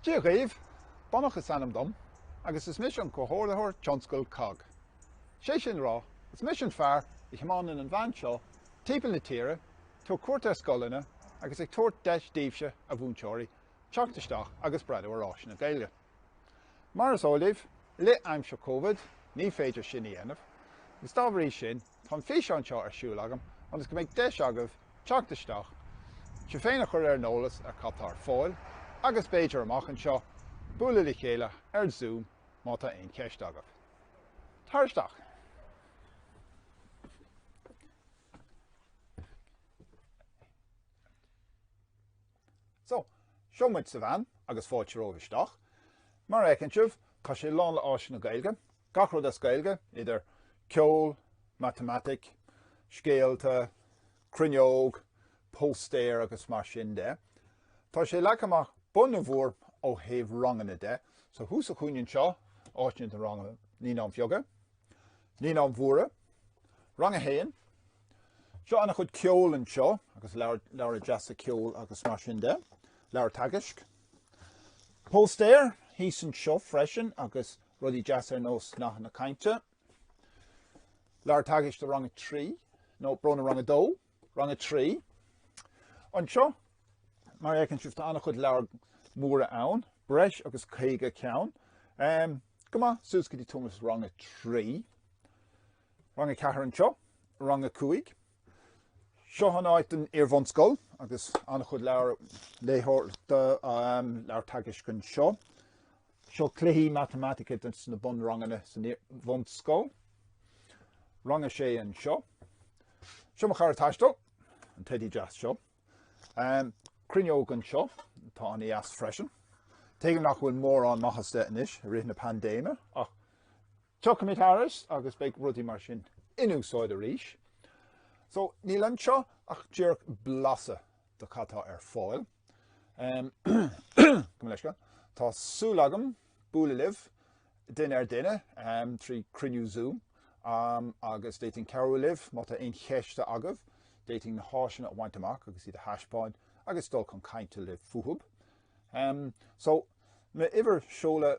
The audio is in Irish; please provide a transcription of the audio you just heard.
Dia dhaoibh! Donach is ainm dom agus is mise an Comhordaitheoir Taistil COGG. Sé sin a rá, is mise an fear a thiomáineann an veain seo timpeall na tíre, ag tabhairt cuairt ar scoileanna agus ag tabhairt deis daoibhse, a mhúinteoirí, teacht isteach agus breathnú ar áiseanna Gaeilge. Mar is eol daoibh, i rith aimsir Covid ní féidir sin a dhéanamh agus dá bhrí sin tá an físeán seo ar siúl agam ionas go mbeidh deis agaibh teacht isteach, sibh féin a chur ar an eolas ar cad tá ar fáil agus b'fhéidir amach anseo bualadh le chéile ar Zoom má tá aon cheist agaibh. Tar isteach! So, seo muid sa veain agus fáilte romhaibh isteach. Mar a fheiceann sibh, tá sé lán le áiseanna Gaeilge, gach rud as Gaeilge, idir ceol, matamaitic, scéalta, cruinneog, póstaeir agus mar sin de. Tá sé leagtha amach bunabhór ó thaobh ranganna de, so thuas sa chúinne seo, áiseanna do ranganna Naíonáin Bheaga, Naíonáin Mhóra, Rang a hAon, Seo ana chuid ceoil anseo agus leabhair, leabhair deasa ceoil agus mar sin de, leabhair teagaisc. Póstaeir thíos anseo freisin agus rudaí deasa ar nós nathanna cainte. Leabhair teagaisc do rang 3, ó brón orm rang 2, rang 3. Anseo, mar a fheiceann sibh tá ana chuid leabhair móra ann, breis agus 50 ceann. Um, go maith, suas go dtí timpeall's rang 3. Rang a ceathair anseo, Rang a cúig. Seo an áit don iar-bhunscoil agus an-chuid leabhair léitheoireachta, leabhair teagaisc anseo. Seo cluichí matamaitice do na bunranganna san iar-bhunscoil. Rang a sé anseo. Seo mo chara taistil, an teidí deas seo. Cruinneog anseo, atá an-deas freisin. Tuigim nach bhfuil mórán maitheasa anois i rith na paindéime ach Tiocfaimid thairis agus beidh rudaí mar sin in úsáid arís. So, níl anseo ach díreach blas de cad tá ar fáil. Tá súil agam bualadh libh, duine ar duine, trí cruinniú Zoom agus d'fhéadfainn cabhrú libh má tá aon cheist agaibh. D'fhéadfainn na háiseanna a bhaint amach agus iad a thaispeáin agus dul chun cainte libh fúthub. So, m'uimhir, seoladh